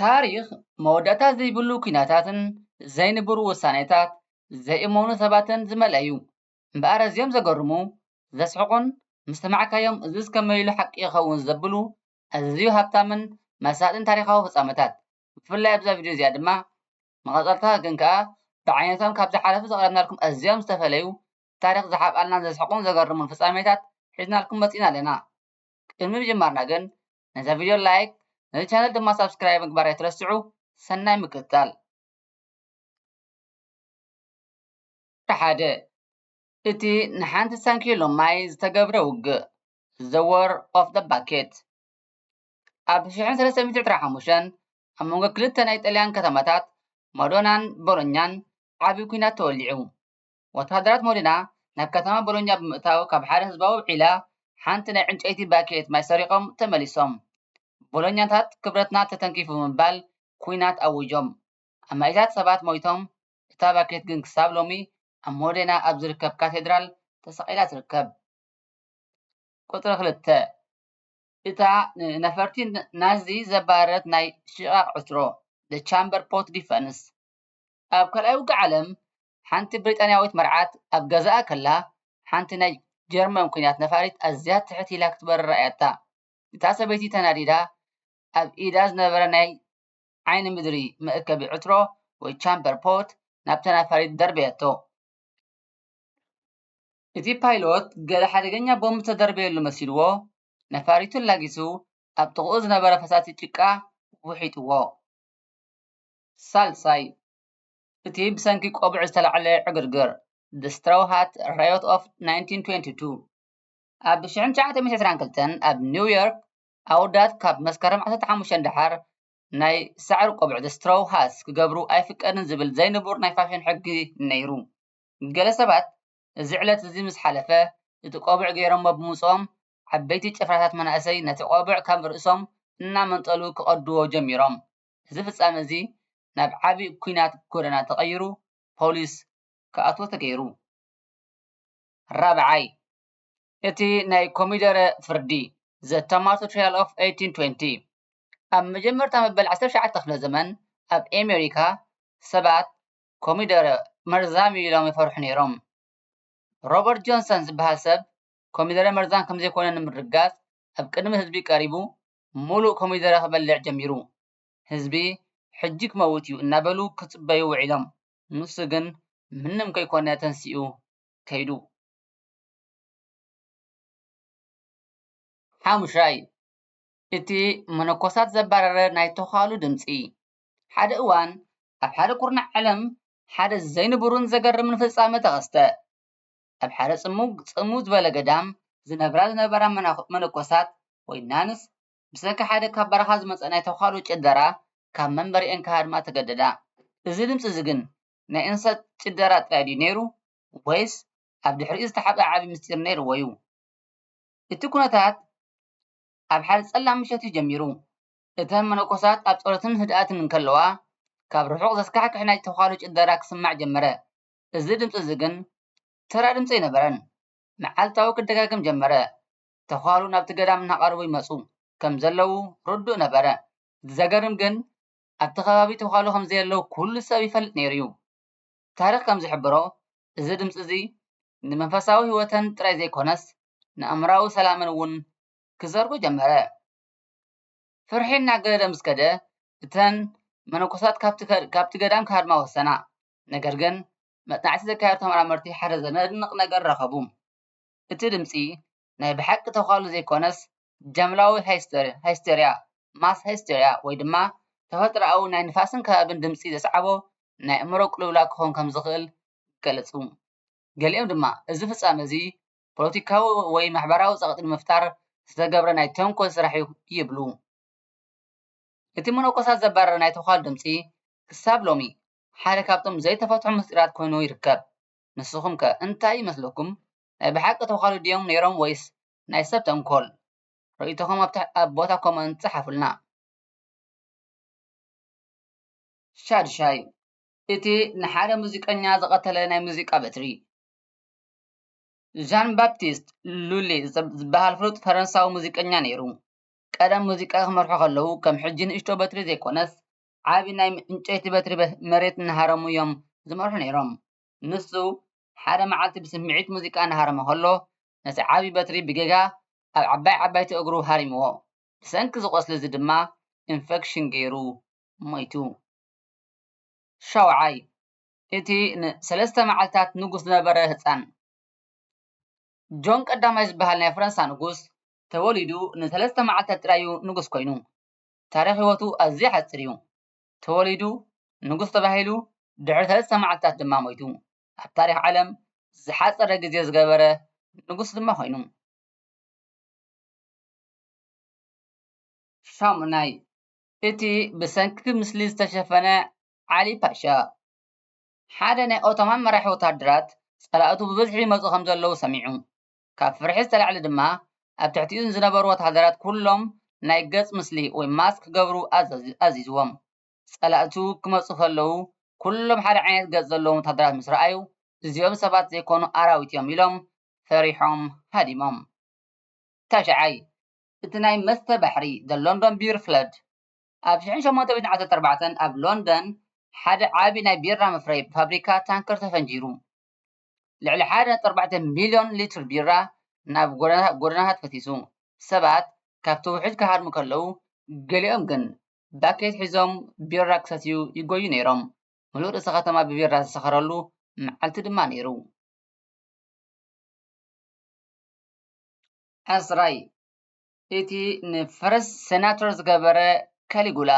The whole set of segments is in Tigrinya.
ታሪኽ መወዳእታ ዘይብሉ ኲናታትን ዘይንቡር ውሳኔታት ዘይእመኑ ሰባትን ዝመልኣ እዩ። እምበኣር ኣዝዮም ዘገርሙ፣ ዘስሕቑን ምስ ሰማዕካዮም እዝስ ከመይ ኢሉ ሓቂ ይኸውን ዘብሉ ኣዝዩ ሃብታምን መሳጥን ታሪኻዊ ፍጻመታት ብፍላይ ኣብዛ ቪድዮ እዚኣ ድማ መቐጸልታ ግን ከኣ ብዓይነቶም ካብ ዝሓለፉ ዘቕረብናልኩም ኣዝዮም ዝተፈለዩ ታሪኽ ዝሓብኣልና ዘስሕቑን ዘገርሙን ፍጻሜታት ሒዝናልኩም መጺእና ኣለና። ቅድሚ ምጅማርና ግን ነዛ ቪድዮ ላይክ ነዚ ቻነል ድማ ሳብስክራይብ ምግባር ኣይትረስዑ ሰናይ ምቅጻል ሓደ እቲ ንሓንቲ ሳንኪሎ ማይ ዝተገብረ ውግእ ዘ ወር ኦፍ ዘ ባኬት ኣብ 1325 ኣብ መንጎ ክልተ ናይ ጥልያን ከተማታት ማዶናን ቦሎኛን ዓብዪ ኩናት ተወሊዑ ወተሃደራት ሞሊና ናብ ከተማ ቦሎኛ ብምእታው ካብ ሓደ ህዝባዊ ዒላ ሓንቲ ናይ ዕንጨይቲ ባኬት ማይ ሰሪቖም ተመሊሶም። ቦሎኛታት ክብረትና ተተንኪፉ ብምባል ኲናት ኣዊጆም። ኣማኢታት ሰባት ሞይቶም፣ እታ ባኬት ግን ክሳብ ሎሚ ኣብ ሞዴና ኣብ ዝርከብ ካቴድራል ተሰቒላ ትርከብ። ቁጽሪ ክልተ። እታ ንነፈርቲ ናዚ ዘባረረት ናይ ሽቓቕ ዕትሮ፣ The Chamber Pot Defense፣ ኣብ ካልኣይ ውግእ ዓለም ሓንቲ ብሪጣንያዊት መርዓት ኣብ ገዛኣ ከላ ሓንቲ ናይ ጀርመን ኲናት ነፋሪት ኣዝያ ትሕት ኢላ ክትበርር ረኣያታ። እታ ሰበይቲ ተናዲዳ ኣብ ኢዳ ዝነበረ ናይ ዓይኒ ምድሪ መእከቢ ዕትሮ ወይ ቻምበር ፖት ናብታ ነፋሪት ደርበየቶ። እቲ ፓይሎት ገለ ሓደገኛ ቦምብ ዝተደርበየሉ መሲልዎ ነፋሪቱ ኣላጊሱ ኣብ ጥቕኡ ዝነበረ ፈሳሲ ጭቃ ውሒጥዎ። ሳልሳይ። እቲ ብሰንኪ ቆብዕ ዝተላዕለ ዕግርግር፣ The Straw Hat Riot of 1922፣ ኣብ 1922 ኣብ ኒው ዮርክ ኣወዳት ካብ መስከረም ዓሰርተ ሓሙሽተ ንደሓር ናይ ሳዕሪ ቆብዕ፣ The Straw Hats፣ ክገብሩ ኣይፍቀድን ዝብል ዘይንቡር ናይ ፋሽን ሕጊ ነይሩ። ገለ ሰባት እዚ ዕለት እዚ ምስ ሓለፈ እቲ ቆብዕ ገይሮሞ ብምውጽኦም ዓበይቲ ጭፍራታት መናእሰይ ነቲ ቆብዕ ካብ ርእሶም እናመንጠሉ ክቐድዎ ጀሚሮም። እዚ ፍጻመ እዚ ናብ ዓቢ ኲናት ጎደና ተቐይሩ ፖሊስ ክኣትዎ ተገይሩ። ራብዓይ፣ እቲ ናይ ኮሚደረ ፍርዲ፣ The Tomato Trial of 1820፣ ኣብ መጀመርታ መበል ዓሰርተ ትሽዓተ ክፍለ ዘመን ኣብ ኣሜሪካ ሰባት ኮሚደረ መርዛም እዩ ኢሎም ይፈርሑ ነይሮም። ሮበርት ጆንሰን ዝበሃል ሰብ ኮሚደረ መርዛም ከምዘይኮነ ንምርግጋጽ ኣብ ቅድሚ ህዝቢ ቀሪቡ ሙሉእ ኮሚደረ ክበልዕ ጀሚሩ። ህዝቢ ሕጂ ክመውት እዩ እናበሉ ክጽበዩ ውዒሎም። ንሱ ግን ምንም ከይኮነ ተንሲኡ ከይዱ። ሓሙሻይ፣ እቲ መነኮሳት ዘባረረ ናይ ተዃሉ ድምጺ። ሓደ እዋን ኣብ ሓደ ኩርናዕ ዓለም ሓደ ዘይንቡርን ዘገርምን ፍጻመ ተኸስተ። ኣብ ሓደ ጽሙግ ጽምው ዝበለ ገዳም ዝነብራ ዝነበራ መነኮሳት ወይ ናንስ ብሰንኪ ሓደ ካብ በረኻ ዝመጸ ናይ ተዃሉ ጭደራ ካብ መንበሪኤን ክሃድማ ተገደዳ። እዚ ድምጺ እዚ ግን ናይ እንሰት ጭደራ ጥራይ ድዩ ነይሩ ወይስ ኣብ ድሕሪኡ ዝተሓብኣ ዓቢ ምስጢር ነይርዎ'ዩ? እቲ ኩነታት ኣብ ሓደ ጸላም ምሸት'ዩ ጀሚሩ። እተን መነኮሳት ኣብ ጸሎትን ህድኣትን እንከለዋ ካብ ርሑቕ ዘስካሕክሕ ናይ ተዃሉ ጭደራ ክስማዕ ጀመረ። እዚ ድምጺ እዚ ግን ተራ ድምጺ ኣይነበረን። መዓልታዊ ክደጋገም ጀመረ። ተዃሉ ናብቲ ገዳም እናቐረቡ ይመጹ ከም ዘለዉ ርዱእ ነበረ። እቲ ዘገርም ግን ኣብቲ ከባቢ ተዃሉ ከም ዘየለዉ ኵሉ ሰብ ይፈልጥ ነይሩ እዩ። ታሪኽ ከም ዝሕብሮ እዚ ድምጺ እዚ ንመንፈሳዊ ህይወተን ጥራይ ዘይኰነስ ንኣእምሮኣዊ ሰላመን እውን ክዘርጎ ጀመረ። ፍርሒ እናገደደ ምስ ከደ እተን መነኮሳት ካብቲ ገዳም ክሃድማ ወሰና። ነገር ግን መጽናዕቲ ዘካየዱ ተመራመርቲ ሓደ ዘነድንቕ ነገር ረኸቡ። እቲ ድምጺ ናይ ብሓቂ ተዃሉ ዘይኰነስ ጃምላዊ ሃይስተርያ፣ ማስ ሃይስተርያ፣ ወይ ድማ ተፈጥሮኣዊ ናይ ንፋስን ከባቢን ድምጺ ዘስዓቦ ናይ ኣእምሮ ቅልውላው ክኸውን ከም ዝኽእል ገለጹ። ገሊኦም ድማ እዚ ፍጻመ እዚ ፖለቲካዊ ወይ ማሕበራዊ ጸቕጢ ንምፍጣር ዝተገብረ ናይ ተንኰል ስራሕ'ዩ ይብሉ። እቲ መነኮሳት ዘባረረ ናይ ተዃሉ ድምጺ ክሳብ ሎሚ ሓደ ካብቶም ዘይተፈትሑ ምስጢራት ኮይኑ ይርከብ። ንስኹም ከ እንታይ ይመስለኩም? ናይ ብሓቂ ተዃሉ ድዮም ነይሮም ወይስ ናይ ሰብ ተንኮል? ርእይቶኹም ኣብ ቦታ ኮመንት ፀሓፉልና። ሻድሻይ፣ እቲ ንሓደ ሙዚቀኛ ዝቐተለ ናይ ሙዚቃ በትሪ። ዣን ባፕቲስት ሉሊ ዝበሃል ፍሉጥ ፈረንሳዊ ሙዚቀኛ ነይሩ። ቀደም ሙዚቃ ክመርሑ ከለዉ ከም ሕጂ ንእሽቶ በትሪ ዘይኮነስ ዓቢ ናይ ዕንጨይቲ በትሪ መሬት እናሃረሙ እዮም ዝመርሑ ነይሮም። ንሱ ሓደ መዓልቲ ብስምዒት ሙዚቃ እናሃረመ ከሎ፣ ነቲ ዓቢ በትሪ ብጌጋ ኣብ ዓባይ ዓባይቲ እግሩ ሃሪምዎ። ብሰንኪ እዚ ቈስሊ እዚ ድማ ኢንፈክሽን ገይሩ ሞይቱ። ሻውዓይ፣ እቲ ንሰለስተ መዓልታት ንጉስ ዝነበረ ህጻን። ጆን ቀዳማይ ዝበሃል ናይ ፈረንሳ ንጉስ፣ ተወሊዱ ንሰለስተ መዓልታት ጥራይ እዩ ንጉስ ኰይኑ። ታሪኽ ህይወቱ ኣዝዩ ሓጺር እዩ። ተወሊዱ ንጉስ ተባሂሉ ድሕሪ ሰለስተ መዓልታት ድማ ሞይቱ። ኣብ ታሪኽ ዓለም ዝሓጸረ ግዜ ዝገበረ ንጉስ ድማ ኮይኑ። ሻሙናይ፣ እቲ ብሰንኪ ምስሊ ዝተሸፈነ ዓሊ ፓሻ። ሓደ ናይ ኦቶማን መራሒ ወተሃደራት ጸላእቱ ብብዝሒ ይመጹ ከም ዘለዉ ሰሚዑ። ካብ ፍርሒ ዝተላዕለ ድማ ኣብ ትሕቲኡ ንዝነበሩ ወተሃደራት ኩሎም ናይ ገጽ ምስሊ ወይ ማስክ ክገብሩ ኣዚዝዎም። ጸላእቱ ክመጹ ከለዉ ኩሎም ሓደ ዓይነት ገጽ ዘለዎም ወተሃደራት ምስ ረኣዩ እዚኦም ሰባት ዘይኮኑ ኣራዊት'ዮም ኢሎም ፈሪሖም ሃዲሞም። ታሽዓይ። እቲ ናይ መስተ ባሕሪ The London Beer Flood ኣብ ሽሕን ሸሞንተ ሚእትን ዓሰርተ ኣርባዕተን ኣብ ሎንደን ሓደ ዓቢ ናይ ቢራ መፍረዪ ፋብሪካ ታንከር ተፈንጂሩ። ልዕሊ ሓደ ነጥቢ ኣርባዕተ ሚልዮን ሊትር ቢራ ናብ ጎደናታት ፈሲሱ። ሰባት ካብቲ ውሕጅ ክሃድሙ ከለዉ፣ ገሊኦም ግን ባኬት ሒዞም ቢራ ክሰትዩ ይጐዩ ነይሮም። ምሉእ ርእሰ ከተማ ብቢራ ዝሰኸረሉ መዓልቲ ድማ ነይሩ። ዓስራይ፣ እቲ ንፈረስ ሰናቶር ዝገበረ ካሊጉላ።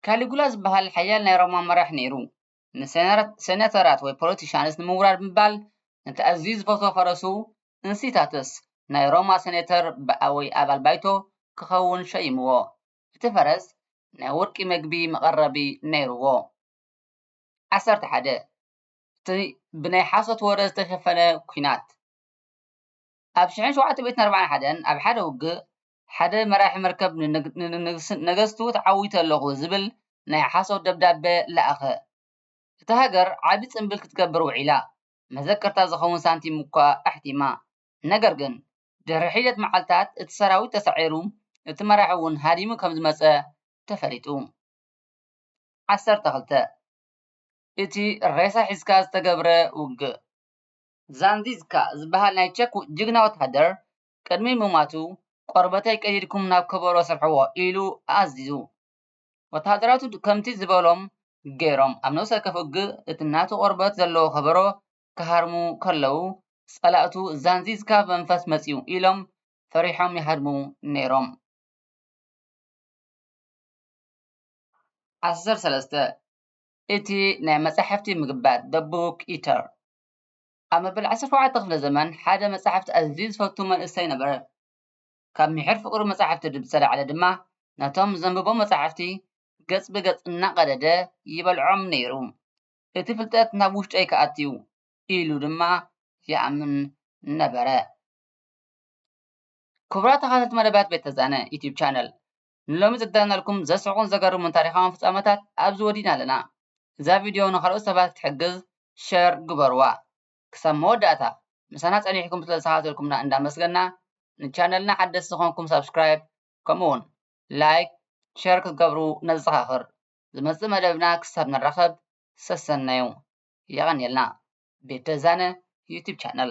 ካሊጉላ ዝበሃል ሓያል ናይ ሮማ መራሕ ነይሩ። ንሰነተራት ወይ ፖለቲሻንስ ንምውራድ ብምባል ነቲ ኣዝዩ ዝፈትዎ ፈረሱ እንሲታተስ ናይ ሮማ ሰኔተር ወይ ኣባል ባይቶ ክኸውን ሸይምዎ። እቲ ፈረስ ናይ ወርቂ መግቢ መቐረቢ ነይሩዎ። ዓሰርተ ሓደ፣ እቲ ብናይ ሓሶት ወረ ዝተሸፈነ ኲናት። ኣብ ሽሕን ሸውዓተ ሚእትን ኣርባዓን ሓደን ኣብ ሓደ ውግእ ሓደ መራሒ መርከብ ንነገስቱ ተዓዊተ ኣለኹ ዝብል ናይ ሓሶት ደብዳበ ለኣኸ። እታ ሃገር ዓቢ ጽንብል ክትገብር ውዒላ፣ መዘከርታ ዝኸውን ሳንቲም'ኳ ኣሕቲማ። ነገር ግን፣ ድሕሪ ሒደት መዓልታት እቲ ሰራዊት ተሳዒሩ፣ እቲ መራሒ'ውን ሃዲሙ ከም ዝመጸ ተፈሊጡ። ዓሰርተ ክልተ። እቲ ሬሳ ሒዝካ ዝተገብረ ውግእ። ዛንዚዝካ ዝበሃል ናይ ቸክ ጅግና ወተሃደር፣ ቅድሚ ምሟቱ፣ ቆርበተይ ቀዲድኩም ናብ ከበሮ ስርሕዎ ኢሉ ኣዚዙ። ወተሃደራቱ ከምቲ ዝበሎም ገይሮም ኣብ ነብሰ ወከፍ ውግእ እቲ ናቱ ቆርበት ዘለዎ ከበሮ ክሃርሙ ከለዉ፣ ጸላእቱ ዛንዚዝካ መንፈስ መጺኡ ኢሎም ፈሪሖም ይሃድሙ ነይሮም። ዓሰርተ ሰለስተ፣ እቲ ናይ መጻሕፍቲ ምግባት፣ The Book Eater፣ ኣብ መበል ዓሰርተ ሸውዓተ ክፍለ ዘመን ሓደ መጻሕፍቲ ኣዝዩ ዝፈቱ መንእሰይ ነበረ። ካብ ምሒር ፍቕሩ መጻሕፍቲ ብዝተላዕለ ድማ ነቶም ዘንብቦም መጻሕፍቲ ገጽ ብገጽ እናቐደደ ይበልዖም ነይሩ። እቲ ፍልጠት ናብ ውሽጠይ ክኣቱ'ዩ ኢሉ ድማ ይኣምን ነበረ። ክቡራት ተኸታተልቲ መደባት ቤት ተዛነ ዩቱብ ቻነል፣ ንሎሚ ዘዳለናልኩም ዘስሕቁን ዘገርሙን ታሪኻውን ፍጻመታት ኣብዚ ወዲእና ኣለና። እዛ ቪድዮ ንኻልኦት ሰባት ክትሕግዝ ሸር ግበርዋ። ክሳብ መወዳእታ ምሳና ጸኒሕኩም ስለ ዝተኸታተልኩምና እንዳመስገና ንቻነልና ሓደስቲ ዝኾንኩም ሳብስክራይብ ከምኡ ውን ላይክ ሸር ክትገብሩ ነዘኻኽር። ዝመጽእ መደብና ክሳብ ንራኸብ ሰሰነዩ። የቐንየልና። ቤት ደዛነ ዩቱብ ቻነል።